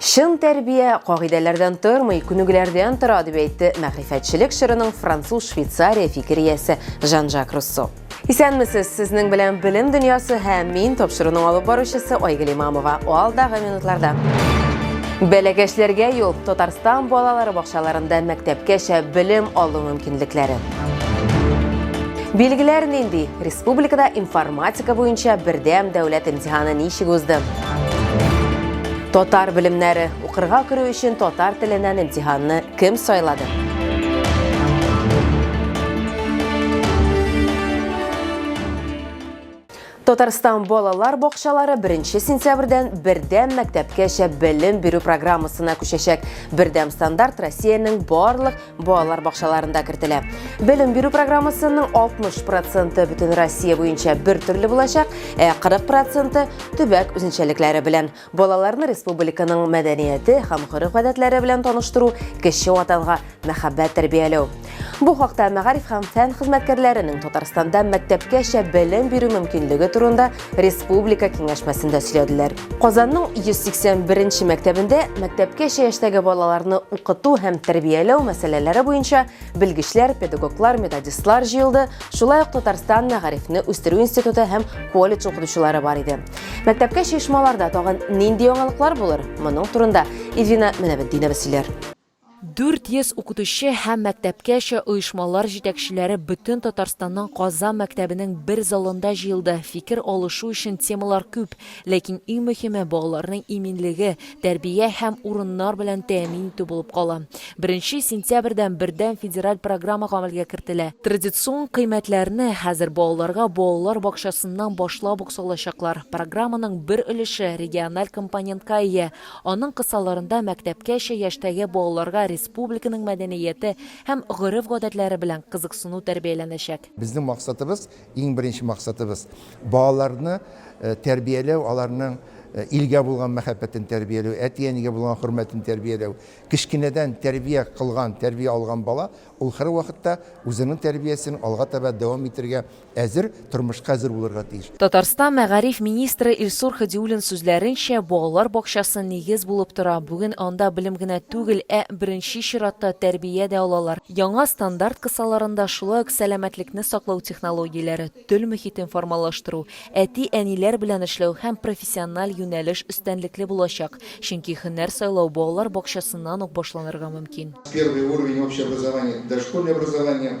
Чын тәрбия кагыйдәләрдән тормый, күнегүләрдән тора, дип әйтте мәгърифәтчелек чорының француз-швейцария фикер иясе Жан-Жак Руссо. Исәнмесез, сезнең белән Белем дөньясы һәм мин тапшыруның алып баручысы Айгөл Имамова. Алдагы минутларда. Бәләкәчләргә юл Татарстан балалары бакчаларында мәктәпкәчә белем алу мөмкинлекләре. Билгеләр нинди? Республикада информатика буенча бердәм дәүләт имтиханы ничек узды? Татар белемнәре. Укырга керү өчен татар теленнән имтиханны кем сайлады? Татарстан балалар бакчалары 1 сентябрьдән бердәм мәктәпкәчә белем бирү программасына күчәчәк. Бердәм стандарт Россиянең барлык балалар бакчаларында кертелә. Белем бирү программасының 60 проценты бөтен Россия буенча бер төрле булачак, ә 40 проценты төбәк үзенчәлекләре белән. Балаларны республиканың мәдәнияте һәм гореф-гадәтләре белән таныштыру, кеше ватанга мәхәббәт тәрбияләү. Бу хакта мәгариф һәм фән хезмәткәрләренең Татарстанда мәктәпкәчә белем бирү мөмкинлеге турында республика киңәшмәсендә сөйләделәр. Казанның 181-нче мәктәбендә мәктәпкәчә яшьтәге балаларны укыту һәм тәрбияләү мәсьәләләре буенча белгечләр, педагоглар, методистлар җыелды, шулай ук Татарстан мәгарифне үстерү институты һәм колледж укытучылары бар иде. Мәктәпкәчә оешмаларда тагын нинди яңалыклар булыр? Моның турында Ильвина Менәбетдинова сөйләр. 400 укытучы һәм мәктәпкәчә оешмалар җитәкчеләре бөтен Татарстанның Казан мәктәбенең бер залында җыелды. Фикер алышу өчен темалар күп, ләкин иң мөһиме, балаларның иминлеге, тәрбия һәм урыннар белән тәэмин итү булып кала. Беренче сентябрьдән бердәм федераль программа гамәлгә кертелә. Традицион кыйммәтләрне хәзер балаларга балалар бакчасыннан башлап ук салачаклар. Программаның бер өлеше региональ компонентка ия. Аның кысаларында мәктәпкәчә яшьтәге балаларга республиканың мәдәнияте һәм гореф-гадәтләре белән кызыксыну тәрбияләнәчәк. Безнең максатыбыз, иң беренче максатыбыз, балаларны тәрбияләү, аларның илгә булган мәхәббәтен тәрбияләү, әти-әнигә булган хөрмәтен тәрбияләү. Кечкенәдән тәрбия кылган, тәрбия алган бала, ул һәрвакытта үзенең тәрбиясен алга таба дәвам итәргә Әзер, тормышка әзер булырга тиеш. Татарстан мәгариф министры Илсур Һадиуллин сүзләренчә, балалар бакчасы нигез булып тора, бүген анда белем генә түгел, ә, беренче чиратта, тәрбия дә алалар. Яңа стандарт кысаларында шулай ук сәламәтлекне саклау технологияләре, төл мохитен формалаштыру, әти-әниләр белән эшләү һәм профессиональ юнәлеш өстенлекле булачак, чөнки һөнәр сайлау балалар бакчасыннан ук башланырга мөмкин. Первый уровень общеобразования, дошкольное образование,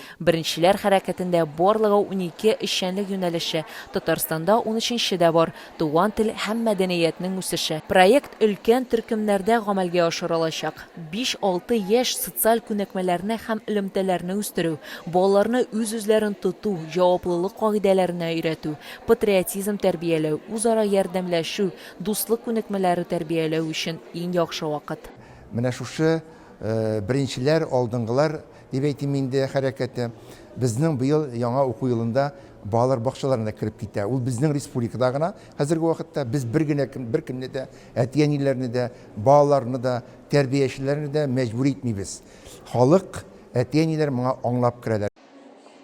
Беренчеләр хәрәкәтендә барлыгы унике эшчәнлек юнәлеше, Татарстанда унөченче дә бар, Туган тел һәм мәдәниятнең үсеше. Проект өлкән төркемнәрдә гамәлгә ашырылачак. Биш-алты яшь, социаль күнекмәләрне һәм элемтәләрне үстерү, балаларны үз-үзләрен тоту, җаваплылык кагыйдәләренә өйрәтү, патриотизм тәрбияләү, үзара ярдәмләшү, дуслык күнекмәләре тәрбияләү өчен иң яхшы вакыт. Менә шушы беренчеләр, алдынгылар дип әйтим инде, хәрәкәте безнең быел яңа уку елында балалар бакчаларына кереп китә. Ул безнең республикада гына хәзерге вакытта без бер генә кем, беркемне дә, әти-әниләрне дә, балаларны да, тәрбиячеләрне дә мәҗбүр итмибез. Халык, әти-әниләр моңа аңлап керәләр.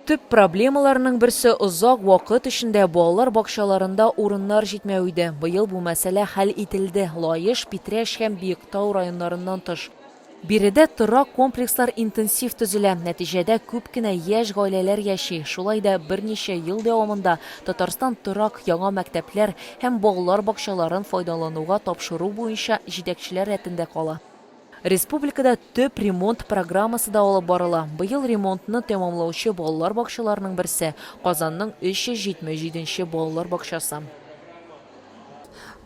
Төп проблемаларның берсе, озак вакыт эчендә балалар бакчаларында урыннар җитмәү иде. Быел бу мәсьәлә хәл ителде. Лаеш, Питрәч һәм Биектау районнарыннан тыш, Биредә торак комплекслар интенсив төзелә, нәтиҗәдә күп кенә яшь гаиләләр яши. Шулай да берничә ел дәвамында Татарстан торак, яңа мәктәпләр һәм балалар бакчаларын файдалануга тапшыру буенча җитәкчеләр рәтендә кала. Республикада төп ремонт программасы да алып барыла. Быел ремонтны тәмамлаучы балалар бакчаларының берсе, Казанның 377 нче балалар бакчасы.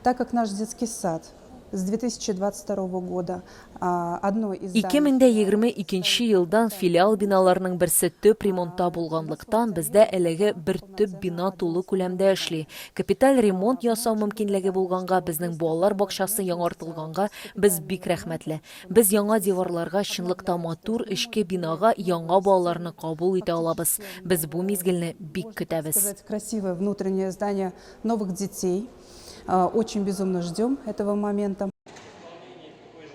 Так как наш детский сад С 2022 года одно из зданий. 2022 нче елдан филиал биналарының берсе төп ремонтта булганлыктан, бездә әлеге бер төп бина тулы күләмдә эшли. Капиталь ремонт ясау мөмкинлеге булганга, безнең балалар бакчасы яңартылганга без бик рәхмәтле. Без яңа диварларга, чынлыкта матур эчке бинага яңа балаларны кабул итә алабыз. Без бу мизгелне бик көтәбез. Красивое внутреннее здание новых детей. Очень безумно ждем этого момента.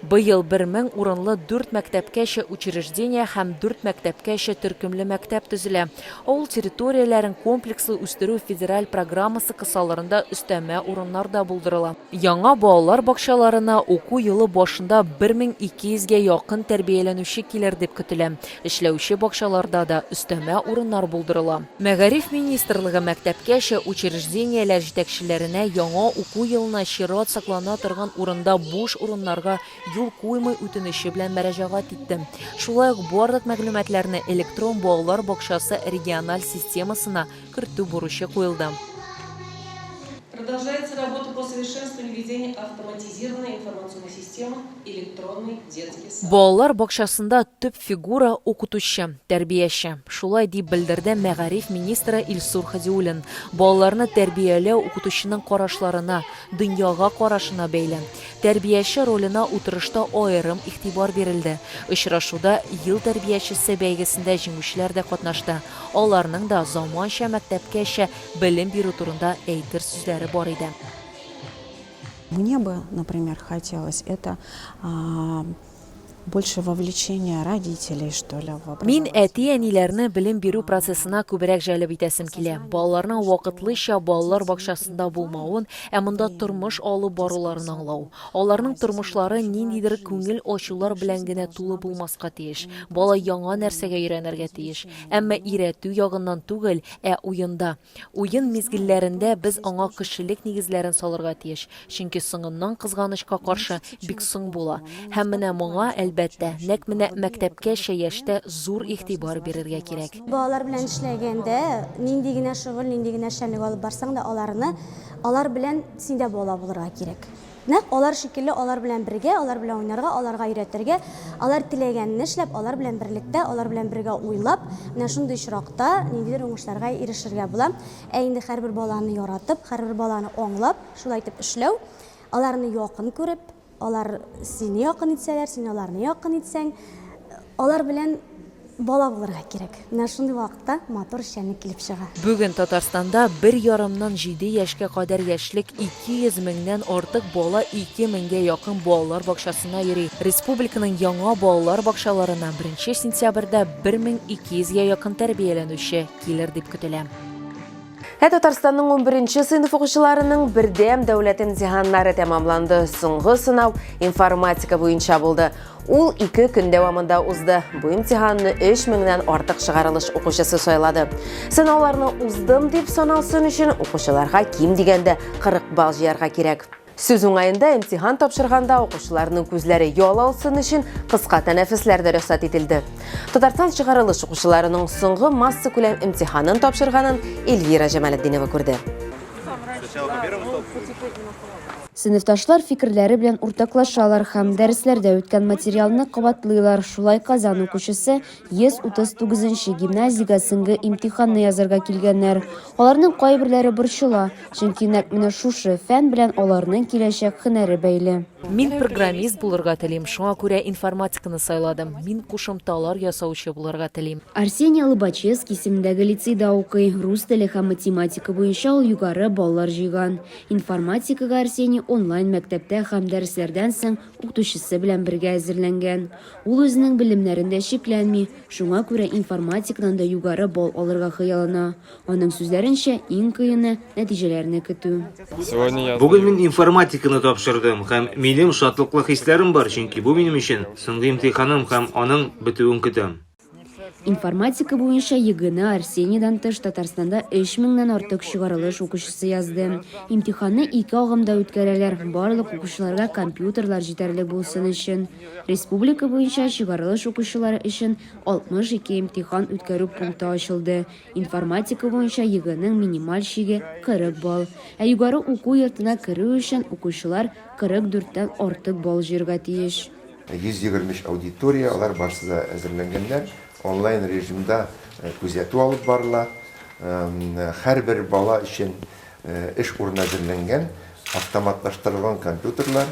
Быел бер мең урынлы дүрт мәктәпкәчә учреждение һәм дүрт мәктәпкәчә төркемле мәктәп төзелә. Авыл территорияләрен комплекслы үстерү федераль программасы кысаларында өстәмә урыннар да булдырыла. Яңа балалар бакчаларына уку елы башында 1200 гә якын тәрбияләнүче килер дип көтелә. Эшләүче бакчаларда да өстәмә урыннар булдырыла. Мәгариф министрлыгы мәктәпкәчә учреждениеләр җитәкчеләренә яңа уку елына чират саклана торган урында буш урыннарга юл куймый үтенече белән мәрәҗәгать итте. Шулай ук барлык мәгълүматларны электрон балалар бакчасы региональ системасына кертү бурычы куелды. Продолжается работа по совершенствованию ведения автоматизированной информационной системы Электронный детский сад. Балалар бакчасында төп фигура, укытучы, тәрбияче. Шулай дип белдерде мәгариф министры Илсур Һадиуллин. Балаларны тәрбияләү укытучының карашларына, дөньяга карашына бәйле. Тәрбияче роленә утырышта аерым игътибар бирелде. Очрашуда Ел тәрбиячесе бәйгесендә җиңүчеләр дә катнашты. Аларның да заманча мәктәпкәчә белем бирү турында әйтер сүзләре бар иде. Мне бы, например, хотелось это больше вовлечение родителей, что ли, в образование. Мин әти-әниләрне белем бирү процессына күбрәк җәлеп итәсем килә. Балаларның вакытлыча балалар бакчасында булмавын, ә монда тормыш алып баруларын аңлау. Аларның тормышлары ниндидер күңел ачулар белән генә тулы булмаска тиеш. Бала яңа нәрсәгә өйрәнергә тиеш. Әмма өйрәтү ягыннан түгел, ә уенда. Уен мизгелләрендә без аңа кешелек нигезләрен салырга тиеш, чөнки соңыннан кызганычка каршы бик соң була. Һәм менә моңа, әлбәттә, нәкъ менә мәктәпкәчә яшьтә зур игътибар бирергә кирәк. Балалар белән эшләгәндә, нинди генә шөгыль, нинди генә эшчәнлек алып барсаң да, аларны, алар белән син дә бала булырга кирәк. Нәкъ алар шикелле алар белән бергә, алар белән уйнарга, аларга өйрәтергә, алар теләгәнне эшләп, алар белән берлектә, алар белән бергә уйлап, менә шундый очракта ниндидер уңышларга ирешергә була. Ә инде һәрбер баланы яратып, һәрбер баланы аңлап, шулай итеп эшләү, аларны якын күреп, алар сине якын итсәләр, син аларны якын итсәң, алар белән Бала булырга кирәк. Менә шундый вакытта матур эшчәнлек килеп чыга. Бүген Татарстанда бер ярымнан җиде яшькә кадәр яшьлек 200 меңнән артык бала 2 меңгә якын балалар бакчасына йөри. Республиканың яңа балалар бакчаларына беренче сентябрьдә 1200 гә якын тәрбияләнүче килер дип көтелә. Ә Татарстанның 11 сыйныф укучыларының бердәм дәүләт имтиханнары тәмамланды. Соңгы сынау информатика буенча булды. Ул ике көн дәвамында узды. Бу имтиханны 3 меңнән артык чыгарылыш укучысы сайлады. Сынауларны уздым дип саналсын өчен укучыларга ким дигәндә 40 балл җыярга кирәк. Сүз уңаенда, имтихан тапшырганда укучыларның күзләре ял алсын өчен кыска тәнәфесләр дә рөхсәт ителде. Татарстан чыгарылыш укучыларының соңгы масса күләм имтиханын тапшырганын Эльвира Җамалетдинова күрде. Сыйныфташлар фикерләре белән уртаклашалар һәм дәресләрдә үткән материалны кабатлыйлар. Шулай Казан укучысы 139 нче гимназиягә сеңге имтиханны язарга килгәннәр. Аларның кайберләре борчыла, чөнки нәкъ менә шушы фән белән аларның киләчәк һөнәре бәйле. Мин программист булырга телим, шуңа күрә информатиканы сайладым. Мин кушымталар ясаучы булырга телим. Арсений Лобачевский исемендәге лицейда укый, рус теле һәм математика буенча ул югары баллар җыйган. Информатикага Арсений онлайн-мәктәптә һәм дәресләрдән соң укытучысы белән бергә әзерләнгән. Ул үзенең белемнәрен дә чикләнми, шуңа күрә информатикадан да югары балл алырга хыяллана. Аның сүзләренчә, иң кыены, нәтиҗәләрне көтү. Бүген мин информатиканы тапшырдым һәм минем шатлыклы хисләрем бар, чөнки бу минем өчен соңгы имтиханым һәм аның бетүен көтәм. Информатика буенча ЕГЭны Арсениядән тыш Татарстанда 3000 нан артык чыгарылыш укучысы язды. Имтиханны ике агымда үткәрәләр, барлык укучыларга компьютерлар җитәрлек булсын өчен. Республика буенча чыгарылыш укучылары өчен 62 имтихан үткәрү пункты ачылды. Информатика буенча ЕГЭның минималь чиге 40 балл. Ә югары уку йортына керү өчен укучылар 44 тән артык балл җыярга тиеш. 123 аудитория, алар барысы да әзерләнгәннәр. Онлайн режимда күзәтү алып барыла. Һәрбер бала өчен эш урыны әзерләнгән, автоматлаштырылган компьютерлар,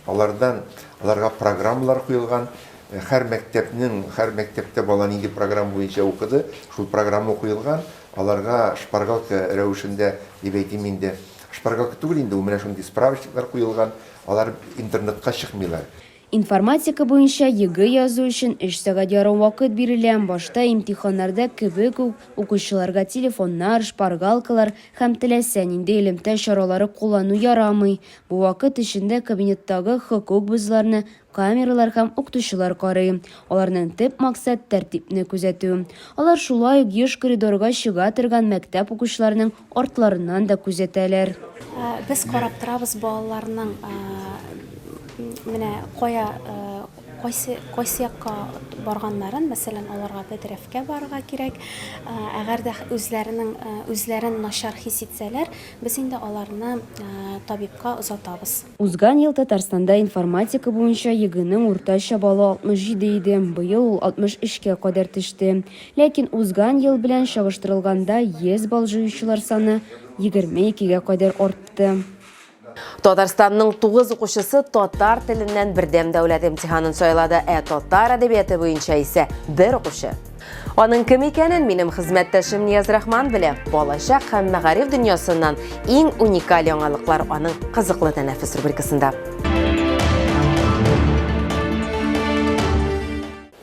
алардан аларга программалар куелган. Һәр мәктәпнең, һәр мәктәптә бала нинди программа буенча укыды, шул программа куелган. Аларга шпаргалка рәвешендә, дип әйтим инде, шпаргалка түгел инде ул, менә шундый справочниклар куелган. Алар интернетка чыкмыйлар. Информатика буенча ЕГЭ язу өчен өч сәгать ярым вакыт бирелә, башта имтиханнарда кебек үк, укучыларга телефоннар, шпаргалкалар һәм теләсә нинди элемтә чаралары куллану ярамый. Бу вакыт эчендә кабинеттагы хокук бозуларны камералар һәм укытучылар карый. Аларның төп максат тәртипне күзәтү. Алар шулай ук еш коридорга чыга торган мәктәп укучыларының артларыннан да күзәтәләр. Без карап торабыз балаларның менә кая кайсы кайсы якка барганнарын, мәсәлән, аларга бәдрәфкә барырга кирәк. Әгәр дә үзләренең үзләрен начар хис итсәләр, без инде аларны табибка озатабыз. Узган ел Татарстанда информатика буенча ЕГЭның уртача баллы 67 иде, быел ул 63 кә кадәр төште. Ләкин узган ел белән чагыштырылганда 100 балл җыючылар саны 22 гә кадәр артты. Татарстанның тугыз укучысы татар теленнән бердәм дәүләт имтиханын сайлады, ә татар әдәбияты буенча исә бер укучы Аның кем икәнен минем хезмәттәшем Нияз-Рахман белә. Балачак һәм мәгариф дөньясыннан иң уникаль яңалыклар аның кызыклы тәнәфес рубрикасында.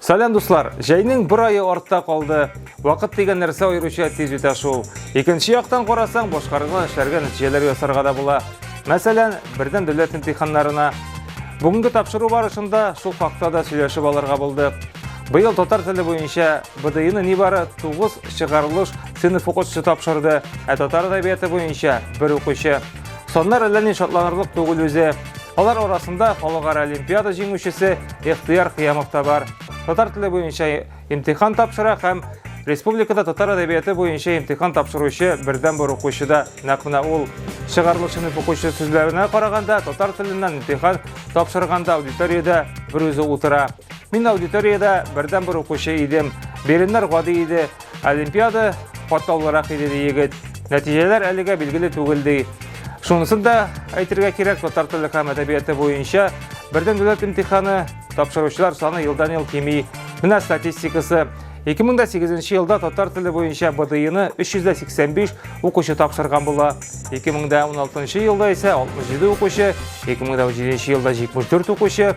Сәлам дуслар! Җәйнең бер айы артта калды. Вакыт дигән нәрсә аеруча тиз үтә шул. Икенче яктан карасаң, башкарылган эшләргә нәтиҗәләр ясарга да була. Мәсәлән, бердәм дәүләт имтиханнарына. Бүгенге тапшыру барышында шул хакта да сөйләшеп алырга булдык. Быел татар теле буенча БДИны нибары 9 чыгарылыш сыйныф укытучысы тапшырды, ә татар әдәбияты буенча бер укучы. Соннар әллә ни шатланырлык түгел үзе. Алар арасында халыкара олимпиада җиңүчесе Ихтияр Кыямов та бар. Татар теле буенча имтихан тапшыра һәм республикада татар әдәбияты буенча имтихан тапшыручы бердән бер укучы да нәкъ менә ул. Чыгарылыш сыйныф укучысы сүзләренә караганда, татар теленнән имтихан тапшырганда аудиториядә бер үзе утыра. Мин аудиториядә бердән бер укучы идем. Биреннәр гади иде. Олимпиада катлаулырак иде ди егет. Нәтиҗәләр әлегә билгеле түгел ди. Шунысын да әйтергә кирәк, татар теле һәм әдәбияты буенча бердән дәүләт имтиханы тапшыручылар саны елдан-ел кими. Менә статистикасы. 2008 елда татар теле буенча БДИны 385 укучы тапшырган була. 2016 елда исә 67 укучы, 2017 елда 74 укучы,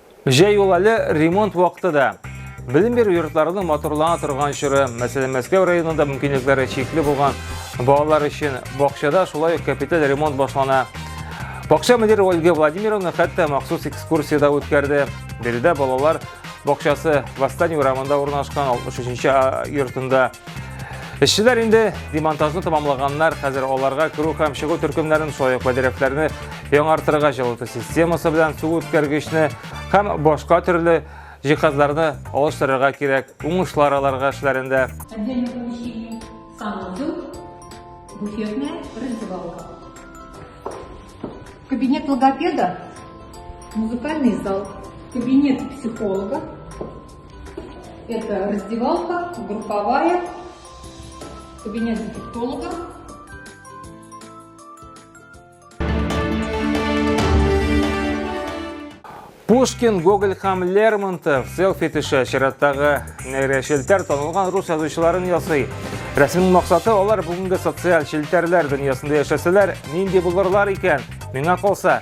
Җәй ул әле ремонт вакыты да. Белем бирү йортларының моторлана торган чоры, мәсәлән, Мәскәү районында мөмкинлекләре чикле булган балалар өчен бакчада шулай ук капиталь ремонт башлана. Бакча мөдире Ольга Владимировна хәтта махсус экскурсия да үткәрде. Биредә балалар бакчасы Восстание урамында урнашкан 63-нче йортында Эшчеләр инде демонтажны тамамлаганнар, хәзер аларга керү һәм чыгу төркемнәрен соек бәдерәкләрне яңартырга җылыту системасы белән су үткәргечне һәм башка төрле җиһазларны алыштырырга кирәк. Уңышлар аларга эшләрендә. Кабинет логопеда, музыкальный зал, кабинет психолога, Это раздевалка, групповая, кабинет дефектолога. Пушкин, Гоголь һәм Лермонтов селфи төшә чираттагы нәйрә челтәр танылган рус язучыларын ясый. Рәсемнең максаты алар бүгенге социаль челтәрләр дөньясында яшәсәләр, нинди булырлар икән? Миңа калса,